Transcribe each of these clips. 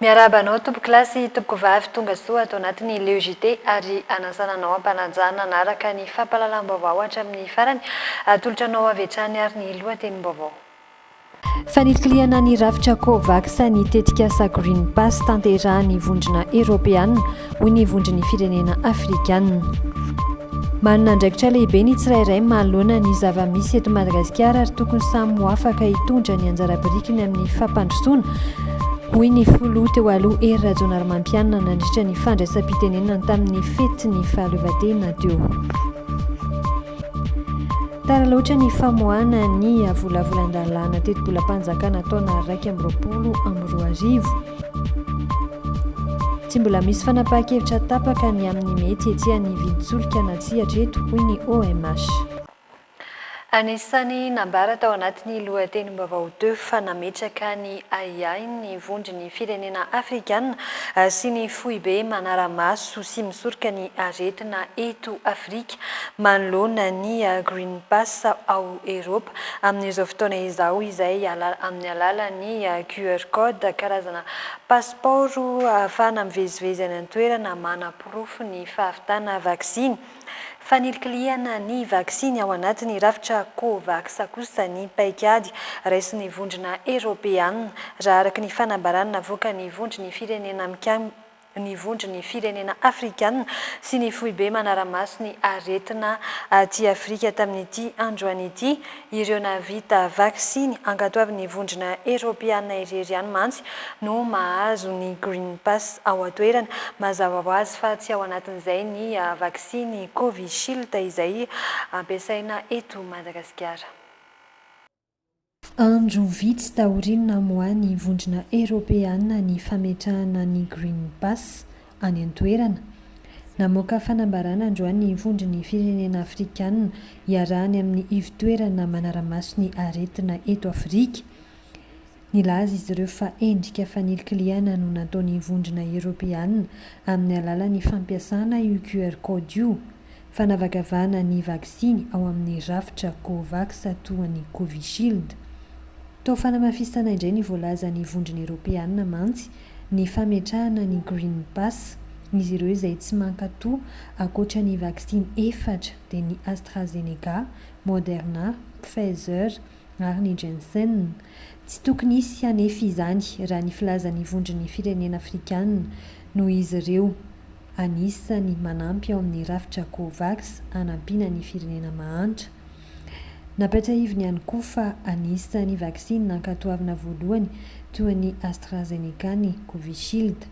Miarahaba anao tompoklasy tompokovavy tonga soa ato anatin'ny Leo JT ary anasana anao ampanajana hanaraka ny fampahalalam-baovao hatramin'ny farany. Atolotra anao avy hatrany ary ny lohatenim-baovao. Fanilikilihana ny rafitra Covax ny tetikasa Green Pass tanterahin'ny Vondrona Eoropeana, hoy ny Vondron'ny Firenena Afrikana. Manana andraikitra lehibe ny tsirairay manoloana ny zava-misy eto Madagasikara ary tokony samy ho afaka hitondra ny anjara birikiny amin'ny fampandrosoana, hoy ny Filoha teo aloha Hery Rajaonarimampianina nandritra ny fandraisam-pitenenany tamin'ny fetin'ny fahaleovantena teo. Tara loatra ny famoahana ny volavolan-dalàna tetibolam-panjakana taona iraika amby roapolo amby roa arivo. Tsy mbola misy fanapahan-kevitra tapaka ny amin'ny mety hietsehan'ny vidin-tsolika na tsia hatreto, hoy ny OMH. Anisan'ny nambara tao anatin'ny lohatenim-baovao Deux fa nametraka ny ahiahiny ny vondron'ny firenena afrikana sy ny foibe manara-maso sy misoroka ny aretina eto Afrika. manoloana ny Green Pass ao Eropa amin'izao fotoana izao izay amin'ny alalan'ny QR Code, karazana pasipaoro ahafahana mivezivezy any an-toerana manaporofo ny fahavitana vaksiny. Fanilikilihana ny vaksiny ao anatin'ny rafitra Covax kosa ny paikady raisin'ny vondrona Eropeana, raha araka ny fanambarana navoakan'ny vondron'ny firenena ny vondron'ny firenena afrikana sy ny foibe manara-maso ny aretina aty Afrika tamin'ity androany ity, ireo nahavita vaksiny ankatoavin'ny vondrona eropeana irery ihany mantsy no mahazo ny Green Pass ao an-toerana. Mazava ho azy fa tsy ao anatin'izay ny vaksiny Covishield izay ampiasaina eto Madagasikara. Andro vitsy taorian'ny namoahan'ny Vondrona Eoropeana ny fametrahana ny Green Pass any an-toerana, namoaka fanambarana androany ny Vondron'ny Firenena Afrikana iarahany amin'ny Ivotoerana Manara-maso ny Aretina eto Afrika, Nilaza izy ireo fa endrika fanilikilihana no nataon'ny Vondrona Eoropeana amin'ny alalan'ny fampiasana io QR Code io, fanavakavahana ny vaksiny ao amin'ny rafitra Covax toa ny Covishield. Toa fanamafisana indray ny voalazan'ny Vondrona Eoropeana mantsy ny fametrahana ny Green Pass. Izy ireo izay tsy mankatò ankoatra ny vaksiny efatra dia ny AstraZeneca, Moderna, Pfizer ary ny Jensen. Tsy tokony hisy anefa izany raha ny filazan'ny Vondron'ny Firenena Afrikana, noho izy ireo anisany manampy ao amin'ny rafitra Covax hanampiana ny firenena mahantra. Nampiatrahiviny ihany koa fa anisan'ny vaksiny nankatoavina voalohany toa ny AstraZeneca ny Covishield.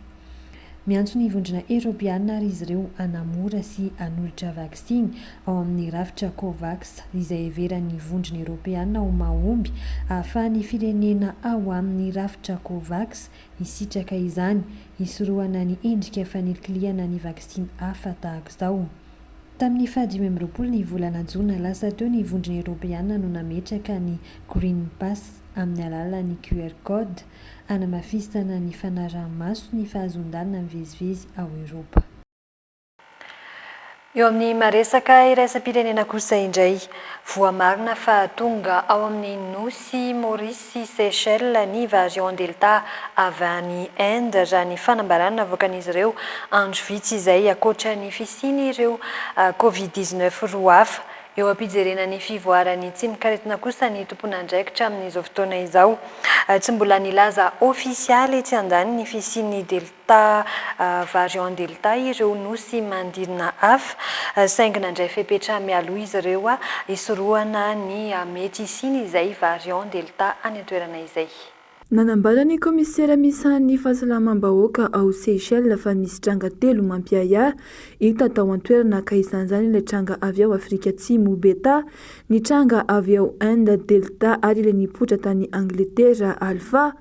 Miantso ny Vondrona Eoropeana àry izy ireo hanamora sy hanolotra vaksiny ao amin'ny rafitra Covax, izay heveran'ny Vondrona Eoropeana ho mahomby ahafahan'ny firenena ao amin'ny rafitra Covax hisitraka izany, hisorohana ny endrika fanilikilihana ny vaksiny hafa tahaka izao. Tamin'ny fahadimy amby roapolo ny volana jona lasa teo ny Vondrona Eoropeana no nametraka ny Green Pass amin'ny alalan'ny QR Code, hanamafisana ny fanaraha-maso ny fahazoan-dalana mivezivezy ao Eoropa. Eo amin'ny maresaka iraisam-pirenena kosa indray, voamarina fa tonga ao amin'ny nosy Maurice sy Seychelles ny variant Delta avy any Inde, raha ny fanambarana navoakan'izy ireo andro vitsy izay, ankoatra ny fisian'ireo Covid dix-neuf roa hafa Eo am-pijerena ny fivoaran'ny tsimok'aretina kosa ny tomponandraikitra amin'izao fotoana izao. Tsy mbola nilaza ofisialy etsy andaniny ny fisian'ny Delta variant Delta ireo nosy manodidina hafa, saingy nandray fepetra mialoha izy ireo hisorohana ny mety hisian'izay variant Delta any an-toerana izay. Nanambara ny kaomisera misahan'ny fahasalamam-bahoaka ao Seychelles fa misy tranga telo mampiahiahy hita tao an-toerana ka isan'izany ilay tranga avy ao Afrika Atsimo, Beta, ny tranga avy ao Inde, Delta, ary ilay nipoitra tany Angletera, Alpha.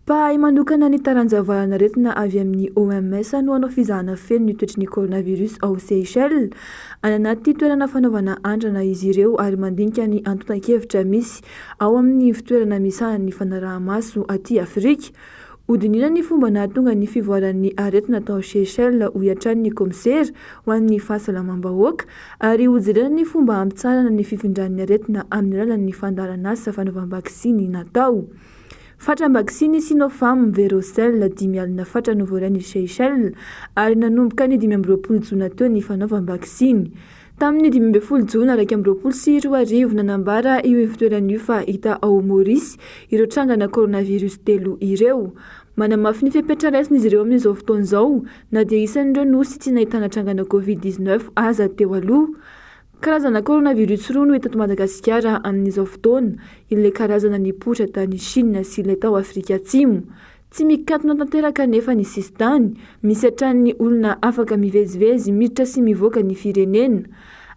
Mpahay manokana ny taranja valanaretina avy amin'ny OMS no hanao fizahana feno ny toetry ny coronavirus ao Seychelles. Any anaty toerana fanaovana andrana izy ireo ary mandinika ny antontan-kevitra misy Ao amin' ny ivon-toerana misahan' ny fanaraha-maso aty Afrika, hodinihina ny fomba nahatonga ny fivoaran' ny aretina tao Seychelles, hoy hatrany ny kaomisera ho an' ny fahasalamam-bahoaka, ary hojerena ny fomba hampitsaharana ny fifindran' ny aretina amin' ny alalan' ny fandaharan' asa fanaovam-baksiny natao. Fatram-baksiny Sinopharm Verocell dimy alina fatra no voarain' i Seychelles, ary nanomboka ny dimy amby roapolo jona teo ny fanaovam-baksiny. Tamin'ny dimy ambin'ny folo jona iraika amby roapolo sy roa arivo, nanambara io ivotoerana io fa hita ao Maurice ireo trangana coronavirus telo ireo. Manamafy ny fepetra raisin'izy ireo amin'izao fotoana izao na dia isan'ireo nosy tsy nahitana trangana covid dix neuf aza teo aloha. Karazana coronavirus roa no hita eto Madagasikara amin'izao fotoana, ilay karazana nipoitra tany Chine sy ilay tao Afrika Atsimo. Tsy mikatona tanteraka anefa ny sisintany, misy hatranin'ny olona afaka mivezivezy miditra sy mivoaka ny firenena.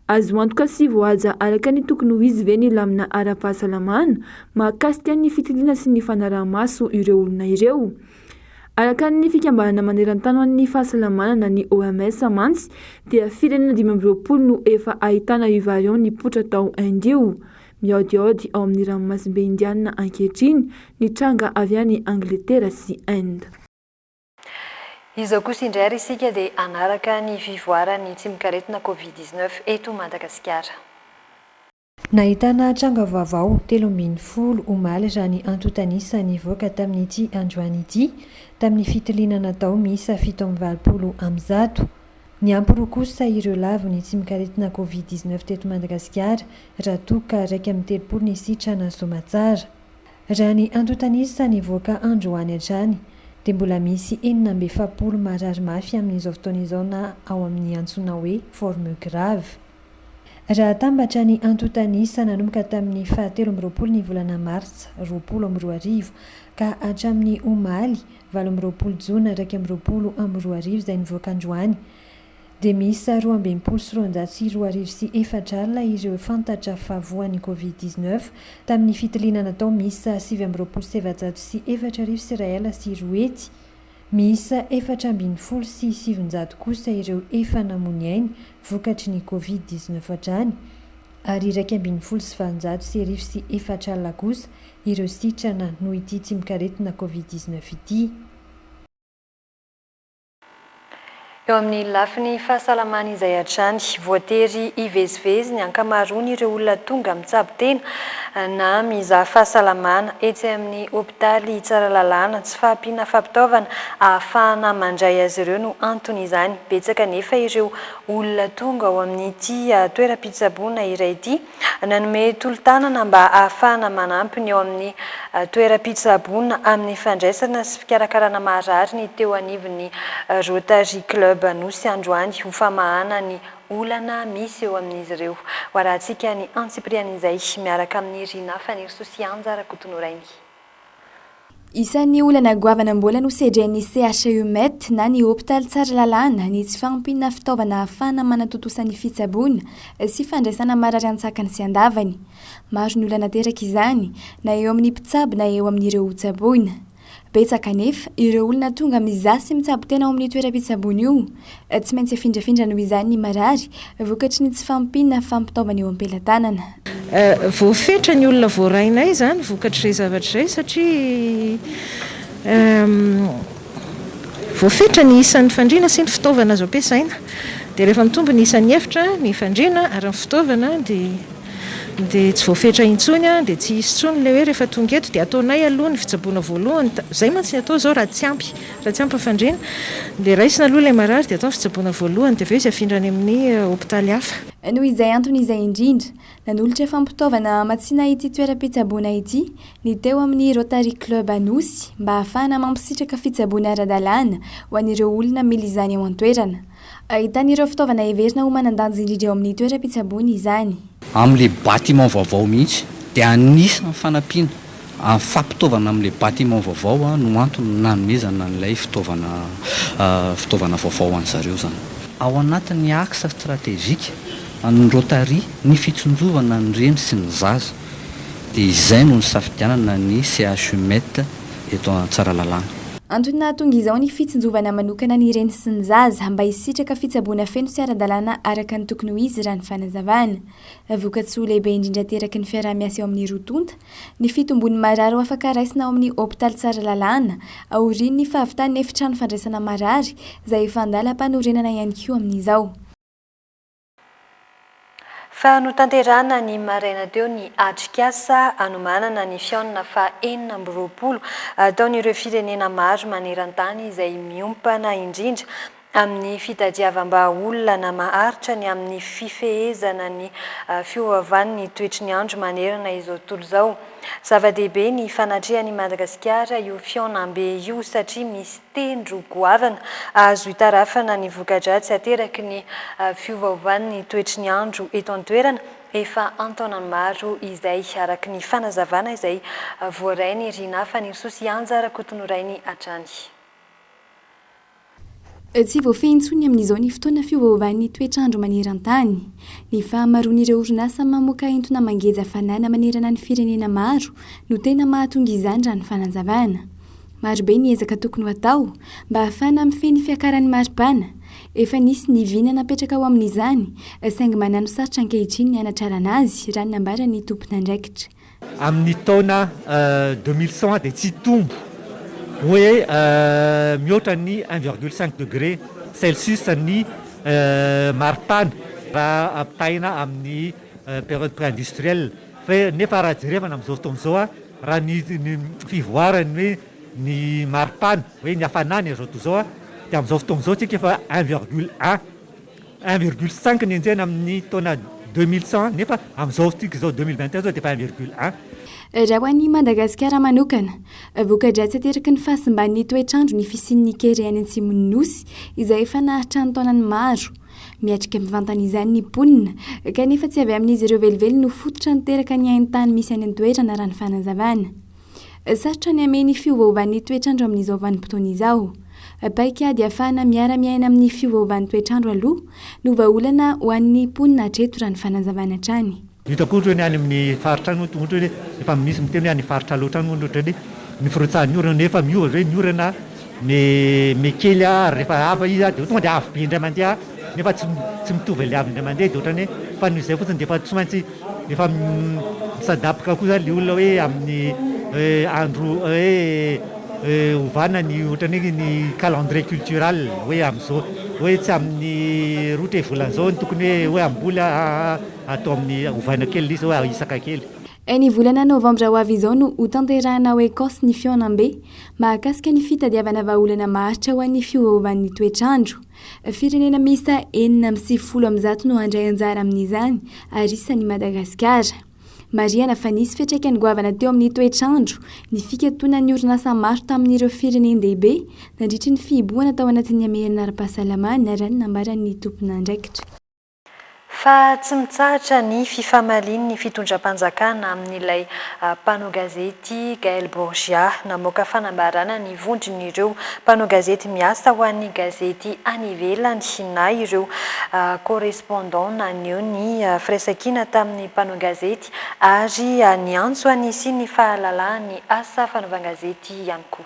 Azo antoka sy voahaja araka ny tokony ho izy ve ny lamina ara-pahasalamana mahakasika ny fitiliana sy ny fanaraha-maso ireo olona ireo? Araka ny fikambanana maneran-tany ho an'ny fahasalamana na ny OMS mantsy dia firenena dimy amby roapolo no efa ahitana io variant nipoitra tao Inde io, Mihaodihaody ao amin'ny ranomasimbe Indianina ankehitriny ny tranga avy any Angletera sy Inde. Izao kosa indray ary isika dia hanaraka ny fivoaran'ny tsimokaretina Covid dix neuf eto Madagasikara. Nahitana tranga vaovao telo ambin'ny folo omaly raha ny antontan'isa nivoaka tamin'ity androany ity tamin'ny fitiliana natao miisa fito amby valopolo amby zato. Niampy roa kosa ireo lavon'ny tsimokaretina Covid dix neuf teto Madagasikara raha toa ka iraika amby telopolo ny sitrana soamantsara. Raha ny antontan'isa nivoaka androany hatrany dia mbola misy enina amby efapolo marary mafy amin'izao fotoana izao na ao amin'ny antsoina hoe forme grave. Raha atambatra ny antontan'isa nanomboka tamin'ny fahatelo amby roapolo ny volana martsa roapolo amby roa arivo ka hatramin'ny omaly valo amby roapolo jona iraika amby roapolo amby roa arivo izay nivoaka androany dia miisa roa amby enimpolo sy roanjato sy roa arivo sy efatra alina ireo fantatra fa voan'ny Covid dix neuf tamin'ny fitiliana natao miisa sivy amby roapolo sy efajato sy efatra arivo sy iray alina sy roa hetsy. Miisa efatra ambin'ny folo sy sivinjato kosa ireo efa namoa ny ainy vokatry ny Covid dix neuf hatrany ary iraika ambin'ny folo sy valonjato sy arivo sy efatra alina kosa ireo sitrana noho ity tsimokaretina Covid dix neuf ity. Eo amin'ny lafiny fahasalamana izay hatrany, voatery hivezivezy ny ankamaroan'ireo olona tonga mitsabo tena na mizaha fahasalamana etsy amin'ny hopitaly Tsaralalàna. Tsy fahampiana fampitaovana ahafahana mandray azy ireo no anton'izany. Betsaka anefa ireo olona tonga ao amin'ity toeram-pitsaboana iray ity. Nanome tolo-tanana mba hahafahana manampy ny eo amin'ny toeram-pitsaboana amin'ny fandraisana sy fikarakarana marary ny teo anivon'ny Rotary Club Anosy androany ho famahana ny olana misy eo amin'izy ireo. Hoarahantsika ny antsipirian'izay miaraka amin'i Rina Fanirisoa sy Anja Rakotonorainy. Isan'ny olana goavana mbola nosedren'ny CHU-Met na ny hopitaly Tsaralalàna ny tsy fahampiana fitaovana ahafahana manatontosa ny fitsaboana sy fandraisana marary an-tsakany sy an-davany. Maro ny olana teraka izany, na eo amin'ny mpitsabo na eo amin'ireo hotsaboina. Betsaka anefa ireo olona tonga mizaha sy mitsabo tena ao amin'io toeram-pitsaboana io. Tsy maintsy afindrafindra noho izany ny marary, vokatry ny tsy fahampiana fampitaovana eo am-pelatanana. Voafetra ny olona voarainay izany vokatr'izay zavatra izay satria voafetra ny isan'ny fandriana sy ny fitaovana azo ampiasaina. Dia rehefa mitombo ny isan'ny efitra, ny fandriana ary ny fitaovana dia tsy voafetra intsony, dia tsy hisy intsony ilay hoe rehefa tonga eto dia ataonay aloha ny fitsaboana voalohany, izay mantsy ny atao izao raha tsy ampy. Raha tsy ampafandriana, dia raisina aloha ilay marary dia atao ny fitsaboana voalohany dia avy eo izy afindra any amin'ny hopitaly hafa. Noho izay antony izay indrindra, nanolotra fampitaovana hamatsiana ity toeram-pitsaboana ity ny teo amin'ny Rotary Club Anosy mba hahafahana mampisitraka fitsaboana ara-dalàna ho an'ireo olona mila izany ao an-toerana. Ahitana ireo fitaovana heverina ho manan-danja indrindra eo amin'ny toeram-pitsaboana izany. Amin'ilay bâtiment vaovao mihitsy dia anisan'ny fanampiana amin'ny fampitaovana amin'ilay bâtiment vaovao no antony nanomezana an'ilay fitaovana fitaovana vaovao ho an'ny zareo izany. Ao anatin'ny axe stratégique an'ny Rotary ny fitsinjovana ny reny sy ny zaza. dia izay no nisafidianana ny CHU Met eto Tsaralalàna. Antony nahatonga izao ny fitsinjovana manokana ny reny sy ny zaza mba hisitraka fitsaboana feno sy ara-dalàna araka ny tokony ho izy raha ny fanazavana. Vokatsoa lehibe indrindra ateraky ny fiaraha-miasa eo amin'ny roa tonta ny fitombon'ny marary ho afaka raisina ao amin'ny hopitaly Tsaralalàna aorian'ny fahavitan'ny efitrano fandraisana marary izay efa an-dalam-panorenana ihany koa amin'izao. Fa notanterahina ny maraina teo ny atrikasa hanomanana ny fihaonana faha enina amby roapolo ataon'ireo firenena maro maneran-tany izay miompana indrindra amin'ny fitadiavam-bahaolana maharitra ny amin'ny fifehezana ny fiovaovan'ny toetry ny andro manerana izao tontolo izao. Zava-dehibe ny fanatrehan'i Madagasikara io fihaonambe io satria misy tendro goavana azo itarafana ny voka-dratsy ateraky ny fiovaovan'ny toetry ny andro eto an-toerana efa an-taonany maro izay, araka ny fanazavana izay voarain'i Rinah Fanirisoa-Sihanja Rakotonorainy hatrany. Tsy voafehy intsony amin'izao ny fotoana fiovaovan'ny toetr'andro maneran-tany. Ny fahamaroan'ireo orinasa mamoaka entona mangeja fanana manerana ny firenena maro no tena mahatonga izany raha ny fanazavana. Maro be ny ezaka tokony ho atao mba ahafahana mifehy ny fiakaran'ny maripana. Efa nisy ny vy nanapetraka ho amin'izany, saingy manano sarotra ankehitriny ny hanatrarana azy, raha ny nambaran'ny tompon'andraikitra. Amin'ny taona deux mille cent dia tsy hitombo hoe mihoatra ny un virgule cinq degré celsius ny maripana raha ampitahaina amin'ny période pré-industrielle. Fa nefa raha jerevana amin'izao fotoana izao a, raha ny ny fivoaran'ny hoe ny maripana, hoe ny hafanana izao tontolo izao a, dia amin'izao fotoana izao isika efa un virgule un, un virgule cinq no henjehina amin'ny taona deux mille cent nefa amin'izao fotoantsika izao deux mille vingt et un izao dia efa un virgule un. Raha ho an'i Madagasikara manokana, voka-dratsy ateraky ny fahasimban'ny toetr'andro ny fisian'ny kere any atsimon'ny Nosy izay efa nahatrany taonany maro, Miatrika mivantana izany ny mponina, kanefa tsy avy amin'izy ireo velively no fototra niteraka ny hain-tany misy any an-toerana, raha ny fanazavana. Sarotra ny hamehy ny fiovaovan'ny toetr'andro amin'izao vanim-potoana izao. Paikady hahafahana miara-miaina amin'ny fiovaovan'ny toetr'andro aloha no vahaolana ho an'ny mponina hatreto, raha ny fanazavana hatrany. Hitako ohatra hoe ny any amin'ny faritra any ohatra hoe efa misy miteny hoe any faritra loatra any ohatra hoe ny firotsahan'ny orana nefa miova ve ny orana ny mi kely ary rehefa ava izy dia tonga dia avo be indray mandeha nefa tsy tsy mitovy ilay avy indray mandeha dia ohatran'ny hoe fa noho izay fotsiny dia efa tsy maintsy efa mi s'adapka koa izany ilay olona hoe amin'ny hoe andro hoe ovana ny ohatran'ny hoe ny calendrier cultural hoe amin'izao hoe tsy amin'ny roa tre volana izao no tokony hoe hoe hamboly Atao amin'ny ovaina kely izy hoe ahisaka kely. Ny volana novambra ho avy izao no ho tanterahina ao Ecosse ny fihaonambe mahakasika ny fitadiavana vahaolana maharitra ho an'ny fiovaovan'ny toetr'andro. Firenena miisa enina amby sivifolo amin'ny zato no handray anjara amin'izany ary isan'i Madagasikara. Marihana fa nisy fiantraikany goavana teo amin'ny toetr'andro ny fikatonan'ny orinasa maro tamin'ireo firenen-dehibe nandritry ny fihibohana tao anatin'ny hamerina ara-pahasalamana, raha ny nambaran'ny tomponandraikitra. Fa tsy mitsahatra ny fifamalian'ny fitondram-panjakana amin'ilay mpanao gazety Gaël Borgia. Namoaka fanambarana ny vondron'ireo mpanao gazety miasa ho an'ny gazety any ivelany na ireo correspondants naneho ny firaisankina tamin'ny mpanao gazety ary niantso an'isian'ny fahalalahan'ny asa fanaovan-gazety ihany koa.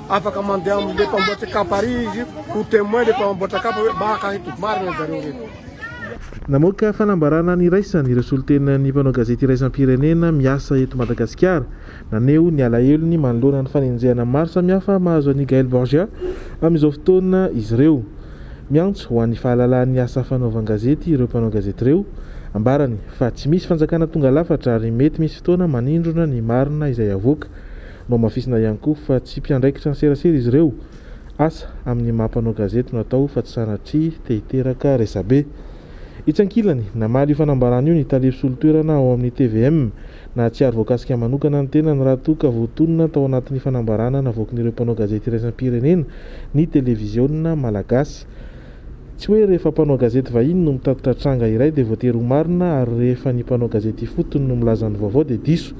Afaka mandeha amin'ny le mpamboatra kapa ary izy ho temoin le mpamboatra kapa hoe maka eto, marina zareo reto. Namoaka fanambarana niraisany ireo solontenan'ny mpanao gazety iraisam-pirenena miasa eto Madagasikara. Naneho ny alahelony manoloana ny fanenjehana maro samihafa mahazo an'i Gaël Borgia amin'izao fotoana izy ireo. Miantso ho an'ny fahalalahan'ny asa fanaovan-gazety ireo mpanao gazety ireo. Ambarany fa tsy misy fanjakana tonga lafatra ary mety misy fotoana manindrona ny marina izay havoaka. Nohamafisina ihany koa fa tsy mpiandraikitra ny serasera izy ireo. Asa amin'ny maha mpanao gazety no atao fa tsy sanatria te hiteraka resabe. Etsy ankilany, namaly io fanambarana io ny tale mpisolo toerana ao amin'ny tvm. Nahatsiaro voakasika manokana ny tenany raha toa ka voatonona tao anatin'ny fanambarana navoakin'ireo mpanao gazety iraisam-pirenena ny televiziona malagasy. Tsy hoe rehefa mpanao gazety vahiny no mitatitra tranga iray dia voatery ho marina ary rehefa ny mpanao gazety ifotony no milaza ny vaovao dia diso.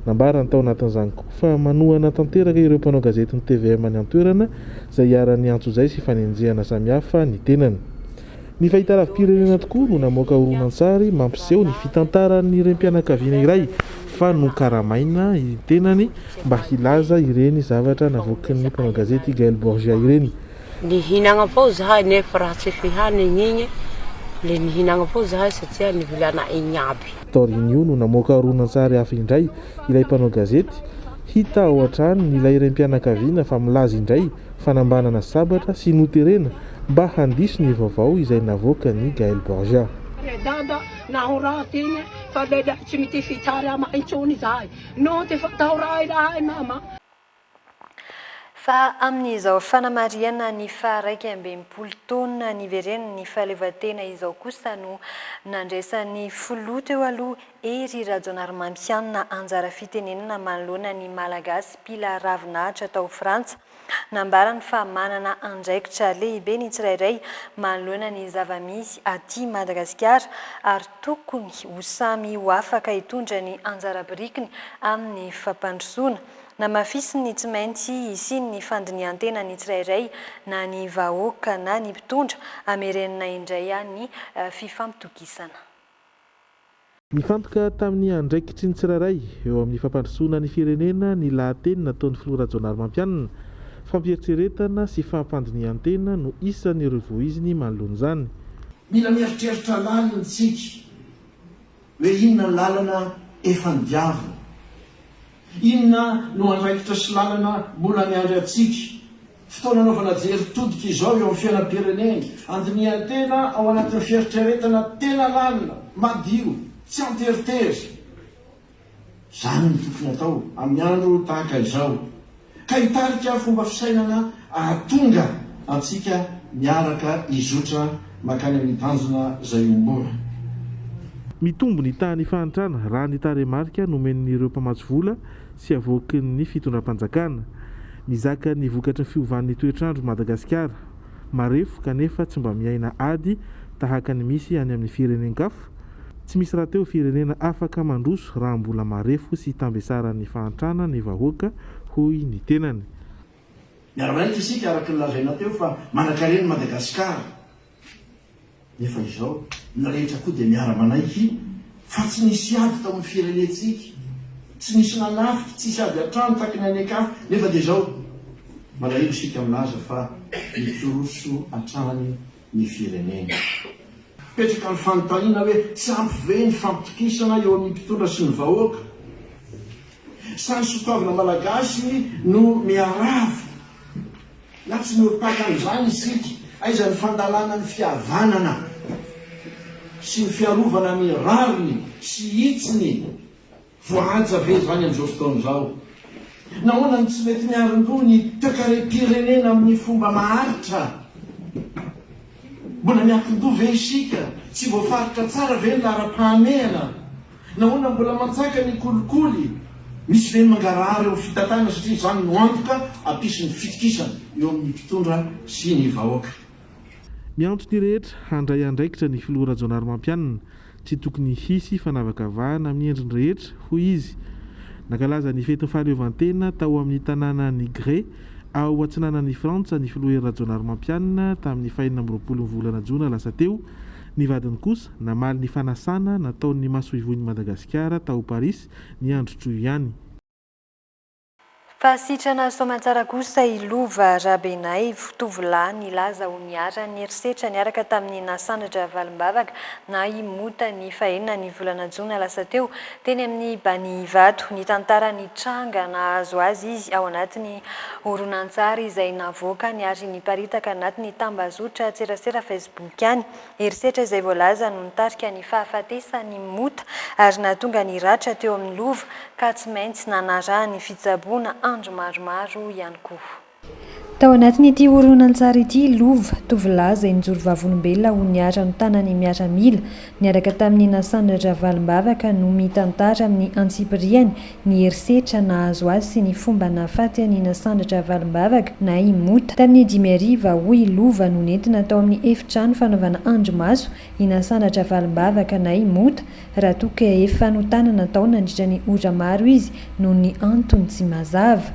Nambarany tao anatin'izany koa fa manohana tanteraka ireo mpanao gazetin'ny tvm any an-toerana izay iharan'ny antso izay sy fanenjehana samihafa ny tenany. Ny fahitaravi-pirenena tokoa no namoaka horonantsary mampiseho ny fitantaran'ny renim-pianakaviana iray fa nokaramaina ny tenany mba hilaza ireny zavatra navoakin'ny mpanao gazety Gael Borgia ireny. Nihinagna foagna zahay nefa raha tsy fihanigny igny le nihinagna foagna zahay satria nivilanay igny aby. Taorian'io no namoaka horonantsary hafa indray ilay mpanao gazety, hita ao an-trano ny ilay raim-pianakaviana fa milaza indray fanambanana sabatra sy noterena mba handiso ny vaovao izay navoakan'i Gael Borja. Ry Dada, naho raha tena fa lehilahy tsy mitia fitsarama intsony izahay, no dia fantao raha ilahay mama. Fa amin'izao fanamarihana ny faha iraika amby enimpolo taona niveren'ny fahaleovantena izao kosa no nandraisan'ny Filoha teo aloha Hery Rajaonarimampianina anjara fitenenana manoloana ny Malagasy mpila ravinahitra tao Frantsa. Nambarany fa manana andraikitra lehibe ny tsirairay manoloana ny zava-misy aty Madagasikara ary tokony ho samy ho afaka hitondra ny anjara birikiny amin'ny fampandrosoana Namafisin'ny tsy maintsy hisian'ny fandinihan-tena ny tsirairay, na ny vahoaka na ny mpitondra, hamerenana indray ny fifampitokisana. Nifantoka tamin'ny andraikitry ny tsirairay eo amin'ny fampandrosoana ny firenena ny lahateny nataon'ny filoha Rajaonarimampianina, fampieritreretana sy fampandinihan-tena no isan'ireo voiziny manoloana izany. Mila mieritreritra lalina isika. Hoe inona ny lalana efa nodiaviny? Inona no andraikitra sy lalana mbola miandry antsika? Fotoana anaovana jery todika izao eo amin'ny fiainam-pirenena. Andinihan-tena ao anatin'ny fieritreretana tena lalina, madio, tsy an-teritery. Izany no tokony atao amin'ny andro tahaka izao, ka hitarika fomba fisainana ahatonga antsika miaraka hizotra mankany amin'ny tanjona izay iombonana. Mitombo ny tahan'ny fahantrana raha ny tarehimarika nomen'ireo mpamatsy vola sy avoakin'ny fitondram-panjakana. Mizaka ny vokatry ny fiovan'ny toetr'andro Madagasikara. Marefo kanefa tsy mba miaina ady tahaka ny misy any amin'ny firenen-kafa. Tsy misy rahateo firenena afaka mandroso raha mbola marefo sy tambesaran'ny fahantrana ny vahoaka, hoy ny tenany. Miara-miaina isika araka ny lazaina teo fa manankarena i Madagasikara, nefa izao ny rehetra koa dia miara-manaiky fa tsy nisy ady tao amin'ny firenentsika, tsy nisy nanafika, tsisy ady an-trano taky ny any an-kafa, nefa dia izao malahelo isika milaza fa mitoroso hatrany. ny firenena. Mipetraka ny fanontaniana hoe tsy ampy ve ny fampitokisana eo amin'ny mpitondra sy ny vahoaka? Sa ny soatoavina malagasy no miharavo? Na tsy miorim-paka amin'izany isika? Aiza ny fandalana ny fihavanana sy ny fiarovana ny rariny sy hitsiny? Voahaja ve izany amin'izao fotoana izao? Nahoana no tsy mety miarin-doha ny toekarem-pirenena amin'ny fomba maharitra? Mbola miankin-doha ve isika? Tsy voafaritra tsara ve ny laharam-pahamehana? Nahoana mbola manjaka ny kolikoly? Misy ve ny mangarahara eo amin'ny fitantanana satria izany no antoka hampisy ny fitokisana eo amin'ny mpitondra sy ny vahoaka? Miantso ny rehetra handray andraikitra ny filoha Rajaonarimampianina, tsy tokony hisy fanavakavahana amin'ny endriny rehetra, hoy izy. Nankalaza ny fetin'ny fahaleovantena tao amin'ny tanàna Nigré, ao atsinanan'i Frantsa ny filoha Hery Rajaonarimampianina tamin'ny fahenina amby roapolon'ny volana jona lasa teo. Ny vadiny kosa namaly ny fanasana nataon'ny masoivohon'i Madagasikara tao Parisy ny andro troy ihany. Fa sitrana soamantsara kosa i Lova Rabenaivo, tovolahy nilaza ho niharan'ny herisetra niaraka tamin'i Nasandratra Valimbavaka na i Mota ny fahenina ny volana jona lasa teo, teny amin'ny Banihivato. Nitantara ny tranga nahazo azy izy ao anatin'ny horonantsary izay navoakany ary niparitaka anatin'ny tambazotran-tserasera Facebook-ny. Herisetra izay voalaza no nitarika ny fahafatesan'i Mota ary nahatonga ny ratra teo amin'ny Lova ka tsy maintsy nanaraha ny fitsaboana andro maromaro ihany koa. Tao anatin'ity horonantsary ity i Lova, tovolahy izay nijoro vavolombelona ho niharan'ny tanan'ny miaramila, niaraka tamin'i Nasan Ravalombavaka no mitantara amin'ny antsipiriany ny herisetra nahazo azy sy ny fomba nahafaty an'i Nasandratra Valimbavaka na i Mota. Tamin'ny dimy hariva, hoy i Lova no nentina tao amin'ny efitrano fanaovana andrimaso i Nasandratra Valimbavaka na i Mota raha toa ka efa notanana tao nandritra ny ora maro izy noho ny antony tsy mazava.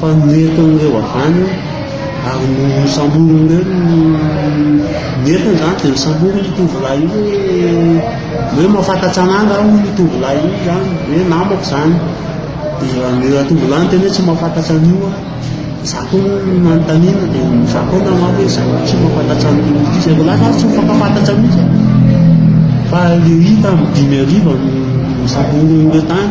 Fanoretan' ireo avy any, ary nosamborin' ireo ny nentiny izany dia nosamborin' io tovolahy io hoe hoe mahafantatra an' ahy angaha hono io tovolahy io izany hoe namako izany, dia ny ratovolahy niteny hoe tsy mahafantatra an' io aho, izaho koa moa no nanontaniana dia izaho koa namaly hoe izaho koa tsy mahafantatra an' io mihitsy, izay voalaza ary tsy mifankafantatra mihitsy e, fa ilay hita amin'ny dimy hariva no nosamborin' ireo tany.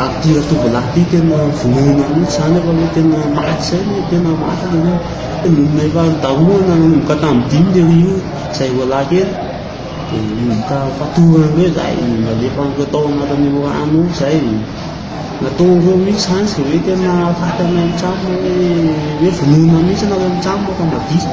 Ary ty ratovolahy ty tena vonoina mihitsy zany efa hoe tena maty zay ny tena maty le hoe tena efa nitahoana nanomboka tamin'ny dimy le ry io zay roalahy kely de ka fatorany hoe zay nalefa an'ireo tao anatin'io rano io zay nataon'ireo mihitsy zany zay hoe tena faty any an-trano hoe hoe vonoina mihitsy nareo an-trano rehefa madio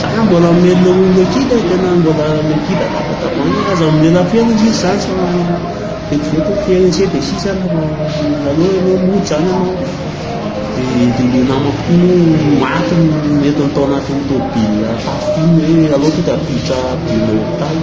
Za mbola mamelona olona aty dia tena mbola mipika tapa-tavoahangy fa aza mamelona fera izy izy zany fa vetivety fera iny seza dia sisa ary fa aleo ianao mody zany ianao dia dia le namako ty moa maty no nentiny tao anatin'ny tômôbila tafika iny hoe aleo tonga miditra avion hôpitaly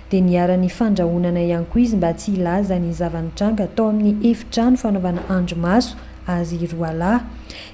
dia niharan'ny fandrahonana ihany koa izy mba tsy hilaza ny zava-nitranga tao amin'ny efitrano fanaovana andrimaso azy roalahy.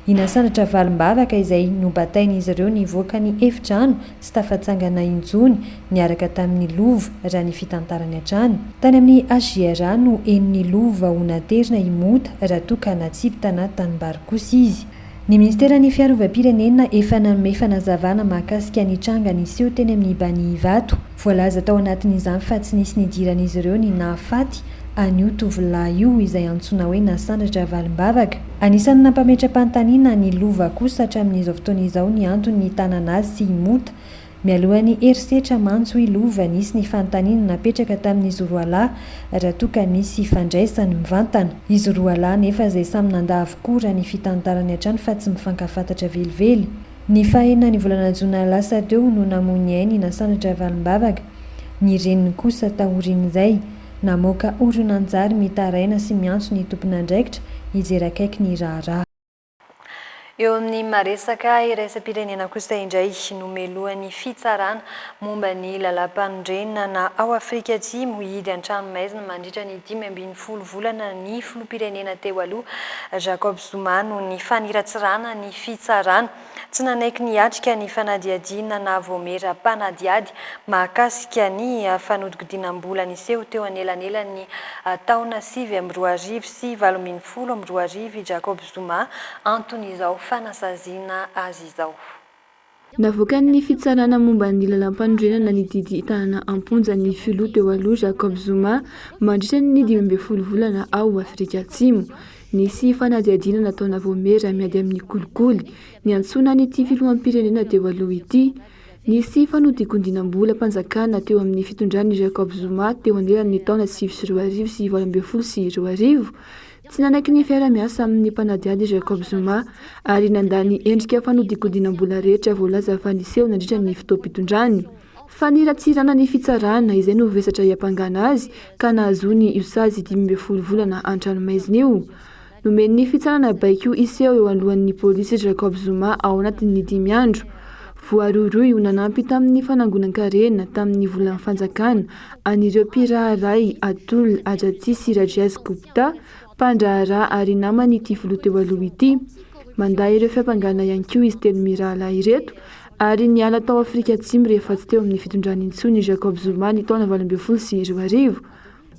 I Nasandratra Valimbavaka izay nobatain'izy ireo nivoaka ny efitrano tsy tafatsangana intsony niaraka tamin'i Lova raha ny fitantarany hatrany. Tany amin'ny HJRA no henon'i Lova ho naterina i Mota raha toa ka natsipy tana tanimbary kosa izy. Ny Ministeran'ny Fiarovam-pirenena efa nanome fanazavana mahakasika ny tranga niseho teny amin'ny Bani Ivato. Voalaza tao anatin'izany fa tsy nisy nidiran'izy ireo ny nahafaty an'io tovolahy io izay antsoina hoe Nasandratra Valimbavaka. Anisan'ny nampametra-panontaniana ny Lova kosa hatramin'izao fotoana izao ny antony nitànana azy sy i Mota Mialoha ny herisetra mantso i Lova nisy ny fanontaniana napetraka tamin'izy roa lahy raha toa ka misy hifandraisany mivantana. Izy roa lahy anefa izay samy nandà avokoa raha ny fitantarany hatrany fa tsy mifankafantatra velively. Ny faha enina ny volana jona lasa teo no namoy ny ainy i Nasandratra Ravalombavaka. Ny reniny kosa taorian'izay. Namoaka horonantsary mitaraina sy miantso ny tompon'andraikitra hijery akaiky ny raharaha. Eo amin'ny maha-resaka iraisam-pirenena kosa indray, nomelohan'ny Fitsarana momba ny Lalàm-panorenana ao Afrika Atsimo hihidy an-tranomaizina mandritra ny dimy ambin'ny folo volana ny filoham-pirenena teo aloha, Jacob Zuma noho ny faniratsiràna ny Fitsarana. Tsy nanaiky ny hiatrika ny fanadihadiana na vaomiera mpanadihady mahakasika ny fanodinkodinam-bola niseho teo anelanelan'ny taona sivy amby roa arivo sy valo ambin'ny folo amby roa arivo i Jacob Zuma anton'izao fanasaziana azy izao. Navoakan'ny Fitsarana momba ny Lalàmpanorenana ny didy hitanana am-ponja ny filoha teo aloha Jacob Zuma mandritra ny dimy ambin'ny folo volana ao Afrika Atsimo. Nisy fanadihadiana nataona vao mera miady amin'ny kolikoly niantsoana an'ity filoham-pirenena teo aloha ity. Nisy fanodikondinam-bolam-panjakana teo amin'ny fitondran'i Jacob Zuma teo anelanin'ny taona sivy sy roa arivo sy valo ambin'ny folo sy roa arivo. Tsy nanaky ny fiaraha-miasa amin'ny mpanadihady i Jacob Zuma ary nandà ny endrika fanodinkodinam-bola rehetra voalaza fa niseho nandritra ny fotoam-pitondrany. Faniratsirana ny fitsarana, izay no vesatra hiampangana azy ka nahazoany io sazy dimy ambin'ny folo volana an-tranomaizina io. Nomen'ny fitsarana baiko hiseho eo alohan'ny polisy Jacob Zuma ao anatin'ny dimy andro. Voarohirohy ho nanampy tamin'ny fanangonan-karena tamin'ny volan'ny fanjakana an'ireo mpiraharay Atul Ajati sy Rajesh Gupta, mpandraharaha ary naman'ity filoha teo aloha ity. Mandà ireo fiampangana ihany koa izy telo mirahalahy ireto ary niala tao Afrika Atsimo rehefa tsy teo amin'ny fitondrana intsony i Jacob Zuma ny taona valo ambin'ny folo sy roa arivo.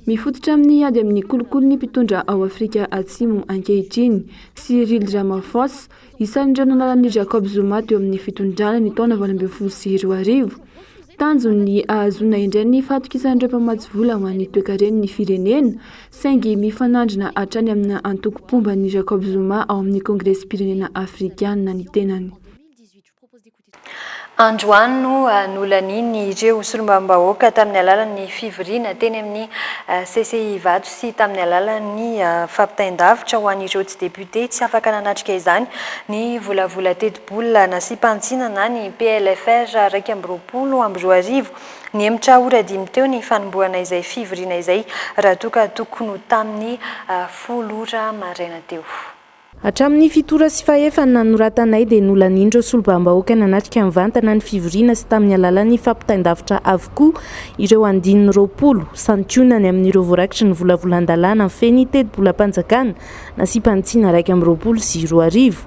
Mifototra amin'ny ady amin'ny kolikoly ny mpitondra ao Afrika Atsimo ankehitriny, Cyril Ramaphosa, isan'ireo nanala an'i Jacob Zuma teo amin'ny fitondrana ny taona valo ambin'ny folo sy roa arivo. Tanjony ny hahazoana indray ny fahatokisan'ireo mpamatsy vola ho an'ny toekaren'ny firenena, saingy mifanandrina hatrany amina antoko mpomba an'i Jacob Zuma ao amin'ny Kongresim-pirenena Afrikana ny tenany. Androany no nolanian'ireo solombavambahoaka tamin'ny alalan'ny fivoriana teny amin'ny CCI Ivato sy tamin'ny alalan'ny fampitain-davitra ho an'ireo tsy depiote tsy afaka nanatrika izany ny volavola tetibola nasiam-panitsiana na ny PLFR iraika amby roapolo amby roa arivo. Nihemotra ora dimy teo ny fanombohana izay fivoriana izay raha toa ka tokony ho tamin'ny folo ora maraina teo. Hatramin'ny fitora sy fahefany nanoratanay dia nolanian'ireo solombavambahoaka nanatrika mivantana ny fivoriana sy tamin'ny alalan'ny fampitain-davitra avokoa ireo andininy roapolo. Santionany amin'ireo voarakitry ny volavolan-dalàna fen'ny tetibolam-panjakana nasiam-panitsiana iraika amby roapolo sy roa arivo.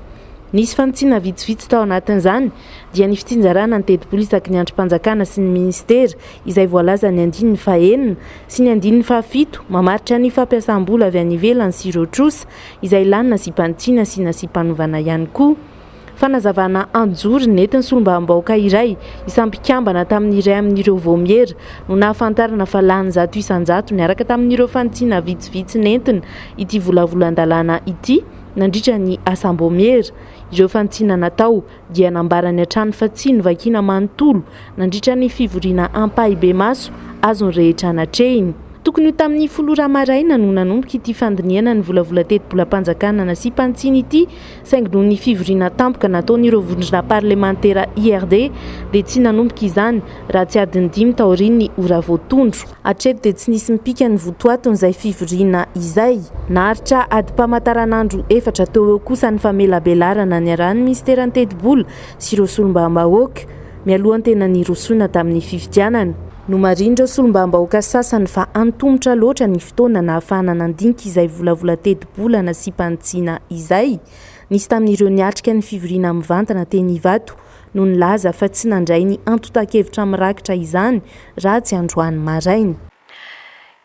Nisy fanitsiana vitsivitsy tao anatin'izany dia ny fitsinjarana ny tetibola isaky ny andrim-panjakana sy ny minisitera izay voalazan'ny andininy fahenina sy ny andininy fahafito mamaritra ny fampiasam-bola avy any ivelany sy ireo trosa izay lany nasipan'i Tiana sy nasipan'i Vana ihany koa. Fanazavana an-jory nentin'ny solombavambahoaka iray isam mpikambana tamin'ny iray amin'ireo vaomiera no nahafantarana fa lany zato isan-jato niaraka tamin'ireo fanitsina vitsivitsy nentina ity volavolan-dalàna ity nandritra ny asam-baomiera ireo fanitsina natao dia nambarany hatrany fa tsy novakina manontolo nandritra ny fivoriana ampahibemaso azo ny rehetra natrehiny. Tokony ho tamin'ny folo ora maraina no nanomboka ity fandinihana ny volavola tetibolam-panjakana nasiam-pantsiny ity saingy noho ny fivoriana tampoka nataon'ireo vondrona parlemantera IRD dia tsy nanomboka izany raha tsy adiny dimy taorian'ny ora voatondro. Hatreto dia tsy nisy mipika ny votoatin'izay fivoriana izay. Naharitra adim-pamataranandro efatra teo eo kosa ny famelabelarana niarahan'ny minisiteran'ny Tetibola sy ireo solombavambahoaka, mialoha ny tena nirosoana tamin'ny fifidianana. Nomarihin'ireo solombavambahoaka sasany fa antomotra loatra ny fotoana nahafahana nandinika izay volavola tetibola nasiam-panitsiana izay. Nisy tamin'ireo niatrika ny fivoriana mivantana teny Ivato no nilaza fa tsy nandray ny antontan-kevitra mirakitra izany Rajy androany maraina.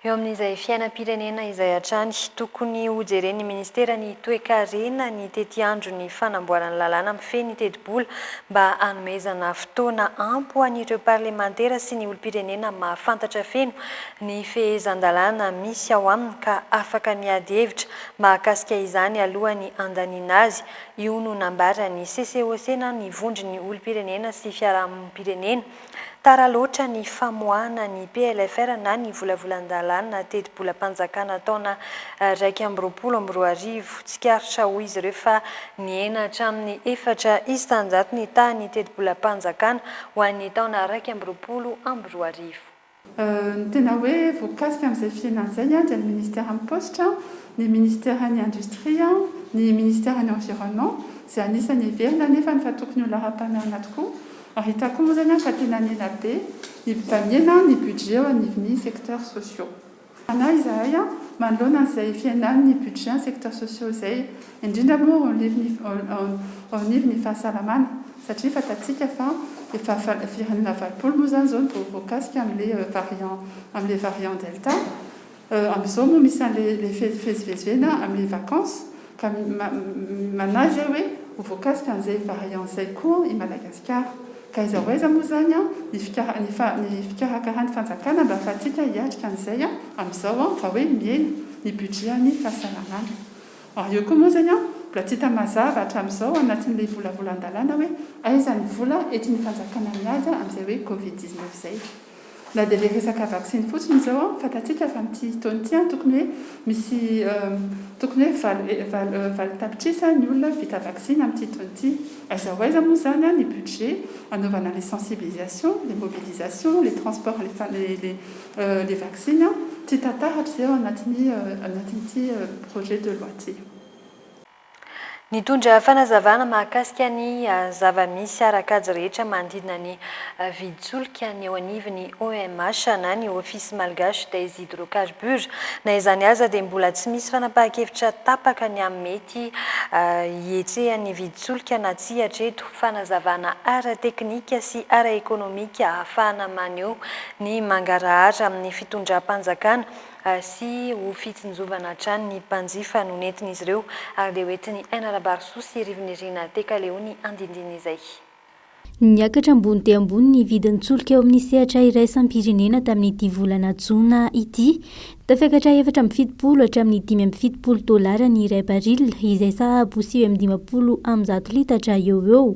Eo amin'izay fiainam-pirenena izay hatrany, tokony hojeren'ny Ministeran'ny Toekarena ny tetiandron'ny fanamboarana lalàna mifehy ny tetibola mba hanomezana fotoana ampy ho an'ireo parlemantera sy ny olom-pirenena mahafantatra feno ny fehezan-dalàna misy ao aminy ka afaka miady hevitra mahakasika izany alohan'ny handaniana azy Io no nambaran'ny CCOC na ny Vondron'ny olom-pirenena sy fiarahamonim-pirenena. Tara loatra ny famoahana ny PLFR na ny volavolan-dalàna tetibolam-panjakana taona iraika amby roapolo amby roa arivo. Tsikaritra hoy izy ireo fa nihena hatramin'ny efatra isan-jato ny tahan'ny tetibolam-panjakana ho an'ny taona iraika amby roapolo amby roa arivo. Ny tena hoe voakasika amin'izay fihenana izay dia ny Ministeran'ny Paositra, ny Ministeran'ny Indostria, ny Ministeran'ny Environnement, izay anisan'ny heverina anefa ny fa tokony ho laharam-pahamehana tokoa, ary hita koa moa izany fa tena an'ela be ny baniana ny budget eo anivon'ny secteurs sociaux. Fanahy izahay an, manoloana an'izay fihenan'ny budget secteurs sociaux izay, indrindra moa ao anivon'ny ao anivon'ny fahasalamana, satria fantatsika fa efa firenena valopolo moa izany izao no voakasika amin'ilay variant amin'ilay variant delta, amin'izao moa misy an'ilay le fivezivezena amin'ny vacances, Ka manahy zay hoe ho voakasika an'izay variant zay koa i Madagasikara. Ka aiza ho aiza moa izany ny ny fikarakaran'ny fanjakana mba ahafahantsika hiatrika an'izay amin'izao raha hoe mihena ny budget-n'ny fahasalamana. Ary eo koa moa izany mbola tsy hita mazava hatramin'izao anatin'ilay volavolan-dalàna hoe aiza ny vola entin'ny fanjakana mihaja amin'izay hoe covid dix-neuf izay. Na dia ilay resaka vaksiny fotsiny izao an, fantatsika fa amin'ity taona ity an, tokony hoe misy tokony hoe valo valo valo tapitrisa ny olona vita vaksiny amin'ity taona ity. Aiza ho aiza moa izany an ny budget anaovana les sensibilisations, les mobilisations, les transports les les les vaksiny an? Tsy hita taratra izay ao anatin'ny anatin'ity projet de loi ity. Nitondra fanazavana mahakasika ny zava-misy ara-kajy rehetra manodidina ny vidin-tsolika ny eo anivon'ny OMH na ny Office Malgache des Hydrocarbures. Na izany aza dia mbola tsy misy fanapahan-kevitra tapaka ny amin'ny mety hihetsehan'ny vidin-tsolika na tsia hatreto, fanazavana ara-teknika sy ara-ekonomika ahafahana maneho ny mangarahara amin'ny fitondram-panjakana sy ho fitsinjovana hatrany ny mpanjifa no nentin'izy ireo ary dia ho entin'i Aina Rabarisoa sy Rivo-Nirina Tekaleo ny andindin'izay. Niakatra ambony dia ambony ny vidin'ny solika eo amin'ny sehatra iraisam-pirenena tamin'ity volana jona ity. Tafiakatra efatra amby fitopolo hatramin'ny dimy amby fitopolo dolara ny iray baril, izay sahabo sivy amby dimampolo amby zato litatra eo ho eo,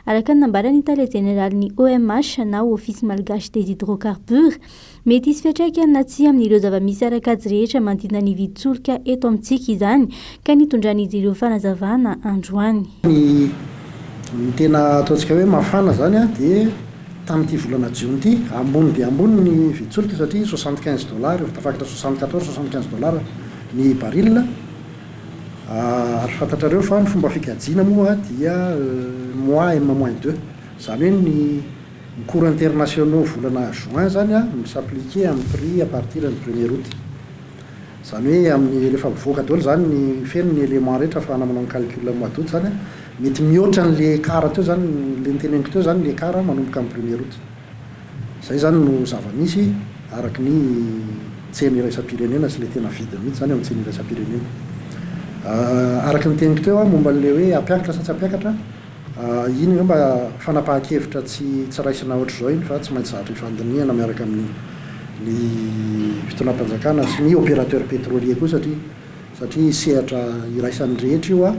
araka ny nambaran'ny tale jeneralin'ny OMH na Office Malgache des Hydrocarbures, Mety hisy fiantraikany na tsia amin'ireo zava-misy ara-kajy rehetra manodidina ny vidin-tsolika eto amintsika izany, ka nitondran'izy ireo fanazavana androany. Ny tena ataontsika hoe mafana izany dia tamin'ity volana jiona ity, ambony dia ambony ny vidin-tsolika satria soixante quinze dollars, efa tafakatra soixante quatorze, soixante quinze dollars ny baril. Ary fantatrareo fa ny fomba fikajiana moa dia mois M moins deux, izany hoe ny. Ny cours internationaux volana juin izany an, mi s'appliquer amin'ny prix à partir ny premier aout. Izany hoe amin'ny rehefa mivoaka daholo izany ny feno ny éléments rehetra afahana manao ny calcul amin'ny mois d'aout izany an, mety mihoatra an'ilay écart teo izany, ilay noteneniko teo izany ny écart manomboka amin'ny premier aout. Izay izany no zava-misy araka ny tsena iraisam-pirenena sy ilay tena vidiny mihitsy izany eo amin'ny tsena iraisam-pirenena. Araka ny teniko teo an, momba an'ilay hoe hampiakatra sa tsy hampiakatra, Iny angamba fanapahan-kevitra tsy tsy raisina hoatr'izao iny fa tsy maintsy zatra ifandinihana miaraka amin'ny ny fitondram-panjakana sy ny opérateur pétrolier koa satria satria sehatra iraisan'ny rehetra io an!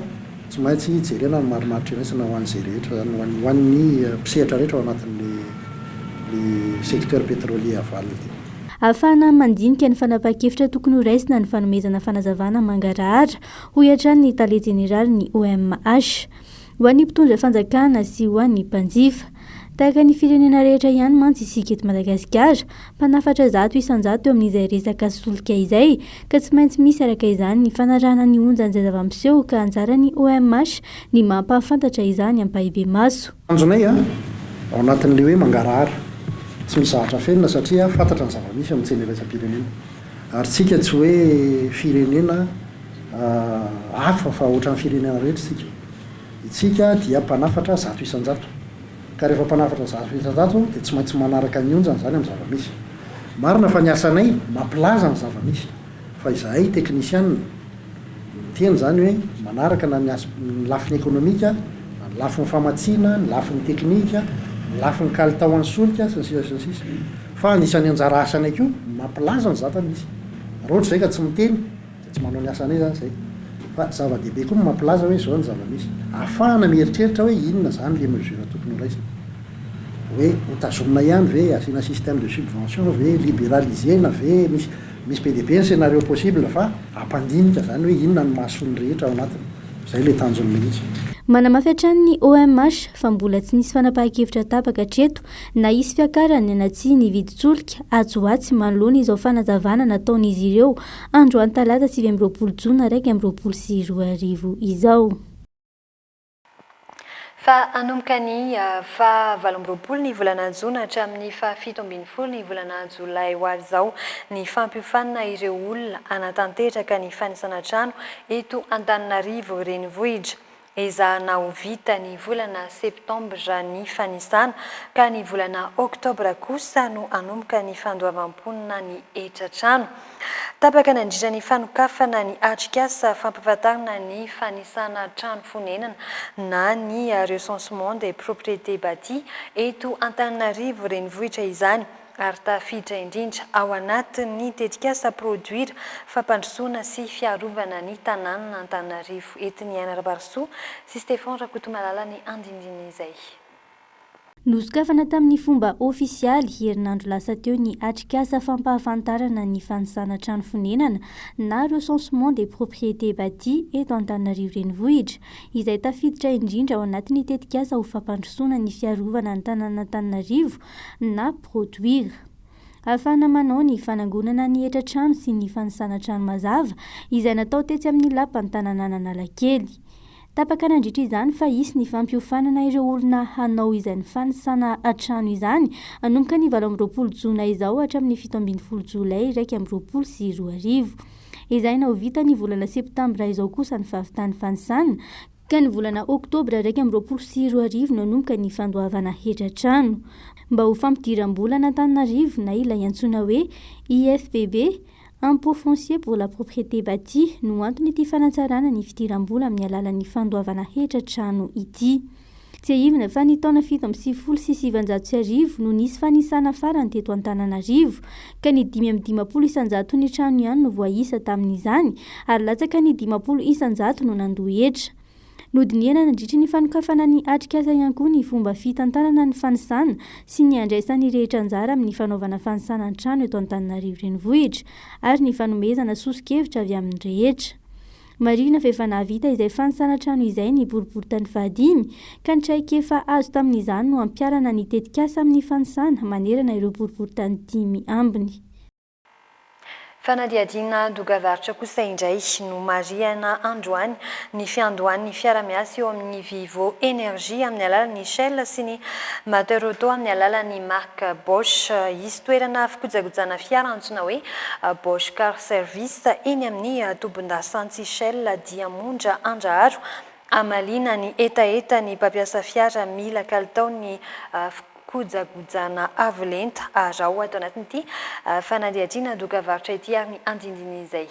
Tsy maintsy jerena ny marimaritra iraisana ho an'izay rehetra zany ho an'ny ho an'ny mpisehatra rehetra ao anatin'le le secteur pétrolier aval ity. Ahafahana mandinika ny fanapahan-kevitra tokony ho raisina ny fanomezana fanazavana mangarahara, hoy hatrany ny tale jeneralin'ny OMH. Ho an'ny mpitondra fanjakana sy ho an'ny mpanjifa. Tahaka ny firenena rehetra ihany mantsy isika eto Madagasikara, mpanafatra zato isan-jato eo amin'izay resaka solika izay, ka tsy maintsy misy araka izany ny fanarahana ny onjan'izay zava-miseho ka anjaran'ny OMH ny mampahafantatra izany ampahibemaso. Tanjonay ao anatin'ilay hoe mangarahara, tsy misy zavatra afenina satria fantatra ny zava-misy amin'ny tsena iraisam-pirenena. Ary tsika tsy hoe firenena hafa fa ohatran'ny firenena rehetra isika. Itsika dia mpanafatra zato isan-jato. Ka rehefa mpanafatra zato isan-jato dia tsy maintsy manaraka ny onjany izany amin'ny zava-misy. Marina fa ny asanay mampilaza ny zava-misy fa izahay teknisianina Miteny izany hoe manaraka na ny ny lafiny ekonomika, na ny lafiny famatsiana, ny lafiny teknika, ny lafiny kalitao an'ny solika, sy ny sisa sy ny sisa. Fa anisan'ny anjara asanay koa ny mampilaza ny zata misy. Raha ohatra izay ka tsy miteny dia tsy manao ny asanay izany izay. Fa zava-dehibe koa ny mampilaza hoe izao ny zava-misy. Ahafahana mieritreritra hoe inona izany ilay mesure tokony ho raisina. Hoe hotazomina ihany ve, asiana système de subvention ve, liberaliser-na ve, misy. Misy be dia be ny scenario possible fa hampandinika izany hoe inona no mahasoa ny rehetra ao anatiny. Izay ilay tanjony mihitsy. Manamafy hatrany ny OMH fa mbola tsy nisy fanapahan-kevitra tapaka hatreto na hisy fiakarany na tsia ny vidin-tsolika atsy ho atsy manoloana izao fanazavana nataon'izy ireo androany talata sivy amby roapolo jona iraika amby roapolo sy roa arivo izao. Fa hanomboka ny faha valo amby roapolo ny volana jona hatramin'ny faha fito ambin'ny folo ny volana jolay ho avy izao ny fampiofanana ireo olona hanatanteraka ny fanisana trano eto Antananarivo renivohitra. Ezahana ho vita ny volana septambra ny fanisana ka ny volana oktobra kosa no hanomboka ny fandoavam-ponona ny hetra trano. Tapaka nandritra ny fanokafana ny atrikasa fampahafantarana ny fanisana trano fonenana na ny Recensement des propriétés bâties eto Antananarivo Renivohitra izany ary tafiditra indrindra ao anatin'ny tetikasa Produire fampandrosoana sy fiarovana ny tanànan' Antananarivo. Etin'i Aina Rabarisoa sy Stephan Rakotomalala ny andinindin'izay. Nosokafana tamin'ny fomba ofisialy, herinandro lasa teo ny atrikasa fampahafantarana ny fanisana trano fonenana na Recensement des propriétés bâties eto Antananarivo Renivohitra, izay tafiditra indrindra ao anatin'ny tetikasa ho fampandrosoana ny fiarovana ny tanànan'Antananarivo na Produir. Ahafahana manao ny fanangonana ny hetra trano sy ny fanisana trano mazava, izay natao tetsy amin'ny Lapan'ny tananan'Analakely. Tapaka nandritra izany fa hisy ny fampiofanana ireo olona hanao izany fanisana trano izany, hanomboka ny valo amby roapolo jona izao hatramin'ny fito ambin'ny folo jolay iraika amby roapolo sy roa arivo. Ezahina ho vita ny volana septambra izao kosa ny fahavitan'ny fanisana, ka ny volana oktobra iraika amby roapolo sy roa arivo no hanomboka ny fandoavana hetra trano. Mba ho fampidiram-bola an'Antananarivo na ilay antsoina hoe IFPB, Impôt foncier pour la propriété bâtie no anton'ity fanatsarana ny fidiram-bola amin'ny alalan'ny fandoavana hetra trano ity. Tsiahivina fa ny taona fito amby sivifolo sy sivinjato sy arivo no nisy fanisana farany teto Antananarivo, ka ny dimy amby dimampolo isan-jato ny trano ihany no voaisa tamin'izany, ary latsaka ny dimampolo isan-jato no nandoa hetra. Nodinihana nandritry ny fanokafana ny atrikasa ihany koa ny fomba fitantanana ny fanisana sy ny handraisan'ny rehetra anjara amin'ny fanaovana fanisana an-trano eto Antananarivo Renivohitra ary ny fanomezana soso-kevitra avy amin'ny rehetra. Marihina fa efa nahavita izay fanisana trano izay ny boriborintany fahadimy ka ny traikefa azo tamin'izany no hampiharana ny tetikasa amin'ny fanisana manerana ireo boriborintany dimy ambiny Fanadihadiana dogavaritra kosa indray no marihana androany ny fiandohan'ny fiara-miasa eo amin'ny Vivo Energy amin'ny alalan'ny Shell sy ny Mater Auto amin'ny alalan'ny marika Bosch. Hisy toerana fikojakojana fiara antsoina hoe Bosch Car Service eny amin'ny tobin-dasantsy Shell Diamondra Andraharo hamaliana ny hetaheta ny mpampiasa fiara mila kalitaon'ny Kojagojana avo lenta arao ato anatin'ity fanadihadiana dokavarotra ity ary ny andindinin'izay.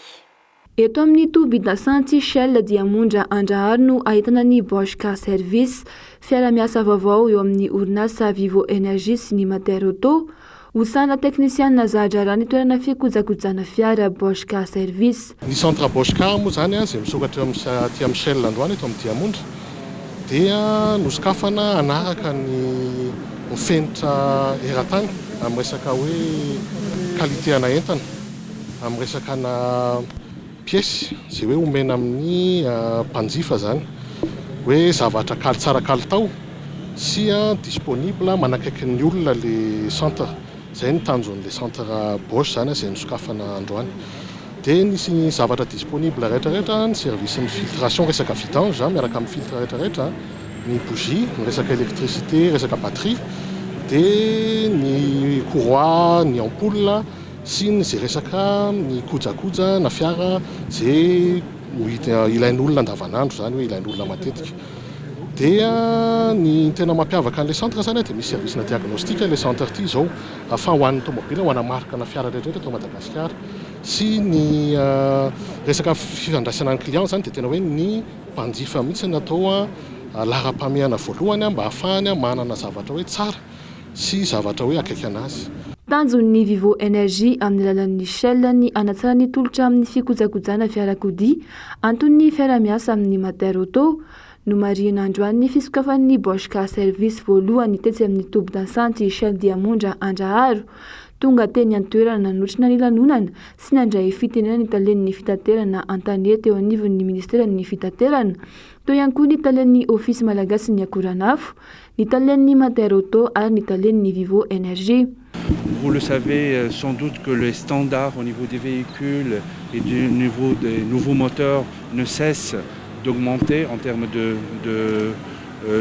Eto amin'ny tobin-dasantsy Shell dia Monja Andrahary no ahitana ny Bosch Car Service, fiara-miasa vaovao eo amin'ny orinasa Vivo Energy sy ny Mater Auto. Ho sahala teknisianina za-draharaha ny toerana fikojakojana fiara Bosch Car Service. Ny Centre Boscar moa izany izay misokatra eo amin'ny aty amin'ny Shell androany eto amin'ny Diamondra dia nosokafana hanaraka ny ho fenitra eran-tany amin'ny resaka hoe qualité ana entana, amin'ny resaka ana pièces izay hoe omena amin'ny mpanjifa izany hoe zavatra kal-tsara kalitao sy disponible manakaiky ny olona ilay centre. Izay no tanjon'ilay centre Bosch izany izay nosokafana androany. Dia nisy ny zavatra disponible rehetrarehetra, ny service-n'ny filtration, resaka vidange izany miaraka amin'ny filtre rehetrarehetra, ny bougie, ny resaka électricité, resaka batterie, dia ny courroie, ny ampoule sy ny izay resaka ny kojakoja na fiara izay ilain'olona andavanandro izany hoe ilain'olona matetika. Dia ny tena mampiavaka an'ilay centre izany dia misy service-na diagnostic ilay centre ity izao fa ho an'ny tomobila, ho ana marque-na fiara rehetrarehetra eto Madagasikara. Sy ny resaka fifandraisana ny client izany dia tena hoe ny mpanjifa mihitsy no atao laharam-pahamehana voalohany mba hahafahany manana zavatra hoe tsara sy zavatra hoe akaiky an'azy. Tanjon'ny Vivo Energy amin'ny alalan'ny Shell ny hanatsara ny tolotra amin'ny fikojakojana fiarakodia Anton'ny fiarahamiasa amin'ny Mater Auto, nomarihina androany ny fisokafan'ny Bosch Car Service voalohany tetsy amin'ny tobin-dasantsy Shell Diamondra Andraharo. Tonga teny an-toerana nanotrona ny lanonana sy nandray fitenenana ny talen'ny fitaterana an-tanety eo anivon'ny minisiteran'ny Fitaterana, teo ihany koa ny talen'ny Ofisy malagasin'ny akoranafo, ny talen'ny Mater Auto ary ny talen'ny Vivo Energy. Vous le savez sans doute que les standards au niveau des véhicules et du niveau des nouveaux moteurs ne cessent d'augmenter en termes de de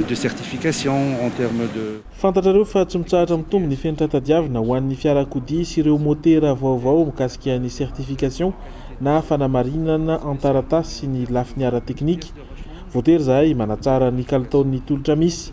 de certification, en termes de. Fantatrareo fa tsy mitsahatra mitombo ny fenitra tadiavina ho an'ny fiarakodia sy ireo motera vaovao mikasika ny certification na fanamarinana an-taratasy sy ny lafiny ara-teknika. Voatery izahay manatsara ny kalitaon'ny tolotra misy.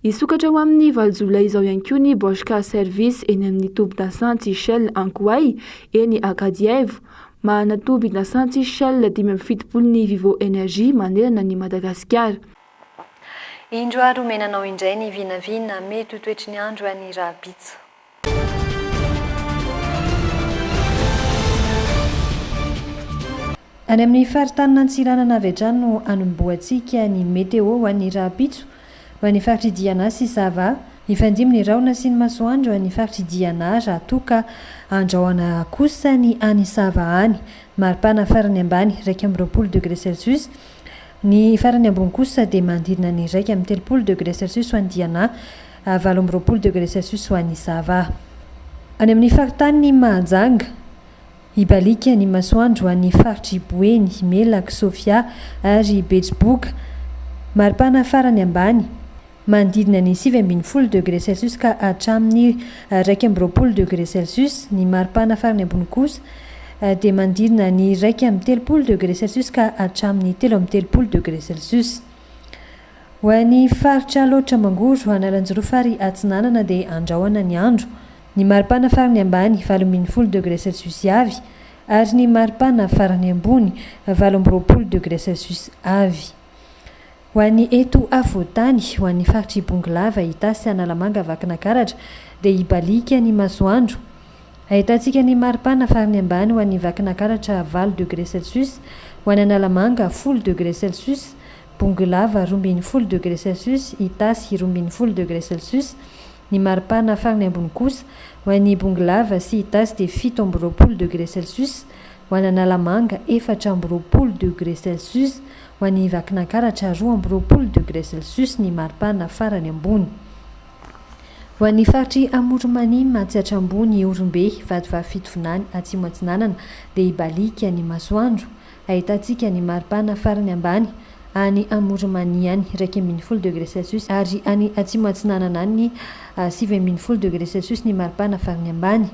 Hisokatra ho amin'ny valo jolay izao ihany koa ny Bosch Car Service eny amin'ny tobin-dasantsy Shell Ankoay, eny Ankadihaivo. Manana tobin-dasantsy Shell dimy amby fitopolo ny Vivo Energy manerana an'i Madagasikara. Indro ary omena anao indray ny vinavina mety ho toetry ny andro any Rabitso. Any amin'ny faritanin'ny Antsiranana avy hatrany no hanombohantsika ny Météo ho an'ny rahampitso. Ho an'ny faritr'i Diana sy Sava, hifandimby ny rahona sy ny masoandro any faritr'i Diana raha toa ka handrahona kosa ny any Sava any. Maripana farany ambany iraika amby roapolo degré celsius, ny farany ambony kosa dia manodidina ny iraika amby telopolo degré celsius ho an'i Diana. ary valo amby roapolo degre celsius ho an'i Sava. Any amin'ny faritanin'i Mahajanga, hibaliaka ny masoandro ho an'ny faritr'i Boeny, Melaky, Sofia ary Betsiboka, maripana farany ambany, manodidina ny sivy ambin'ny folo degre celsius ka hatramin'ny iraika amby roapolo degre celsius, ny maripana farany ambony kosa dia manodidina ny iraika amby telopolo degre celsius ka hatramin'ny telo amby telopolo degre celsius. Ho an'ny faritra Alaotra Mangoro, Analanjirofo ary Atsinanana dia andrahona ny andro. Ny maripana farany ambany, valo ambin'ny folo degre celsius avy, ary ny maripana farany ambony, valo amby roapolo degre celsius avy. Ho an'ny eto afovoan-tany, ho an'ny faritr' i Bongolava, Itasy, Analamanga, Vakinakaratra, dia hibaliaka ny masoandro. Ahitantsika ny maripana farany ambany ho an'ny Vakinakaratra, valo degre celsius, ho an'Analamanga, folo degre celsius, Bongolava, roa ambin'ny folo degre celsius, Itasy, roa ambin'ny folo degre celsius, Ny maripana farany ambony kosa, ho an'i Bongolava sy Itasy dia fito amby roapolo degre celsius, ho an'Analamanga, efatra amby roapolo degre celsius, ho an'i Vakinankaratra, roa amby roapolo degre celsius, ny maripana farany ambony. Ho an'ny faritr'i Amoronmanima, atsy Atrambony, Ihorombe, Vatovavy Fitovinany, Atsimo Atsinanana, dia hibaliaka ny masoandro. Ahitantsika ny maripana farany ambany any Amoronmania any, iraika ambin'ny folo degre celsius, ary any Atsimo Atsinanana any, sivy ambin'ny folo degre celsius, ny maripana farany ambany.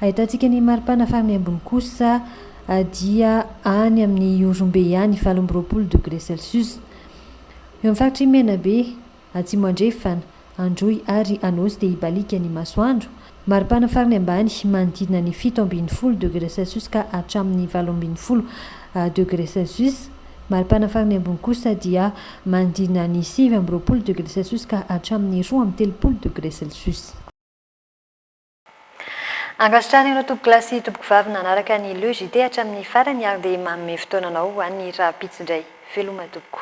Ahitantsika ny maripana farany ambony kosa dia any amin'ny Ihorombe any, valo amby roapolo degre celsius. Eo amin'ny faritr'i Menabe. Atsimo Andrefana, Androy ary Anôsy dia hibaliaka ny masoandro. Maripana farany ambany manodidina ny fito ambin'ny folo degre celsius ka hatramin'ny valo ambin'ny folo degre celsius. Maripana farany ambony kosa dia manodidina ny sivy amby roapolo degre celsius ka hatramin'ny roa amby telopolo degre celsius. Ankasitrahana ireo tompoko lahy sy tompoko vavy nanaraka ny Le JT hatramin'ny farany ary dia manome fotoananao ho an'ny rahampitso indray. Veloma tompoko.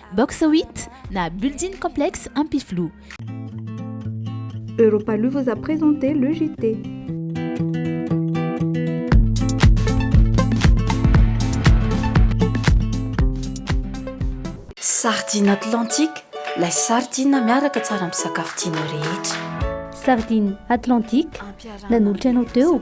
Box huit na Building Complex Ampifiloha. Europaloo vous a présenté le JT. Sardine Atlantique, la sardine miaraka tsara amin'ny sakafo tianao rehetra. Sardine Atlantique, nanolotra anao teo.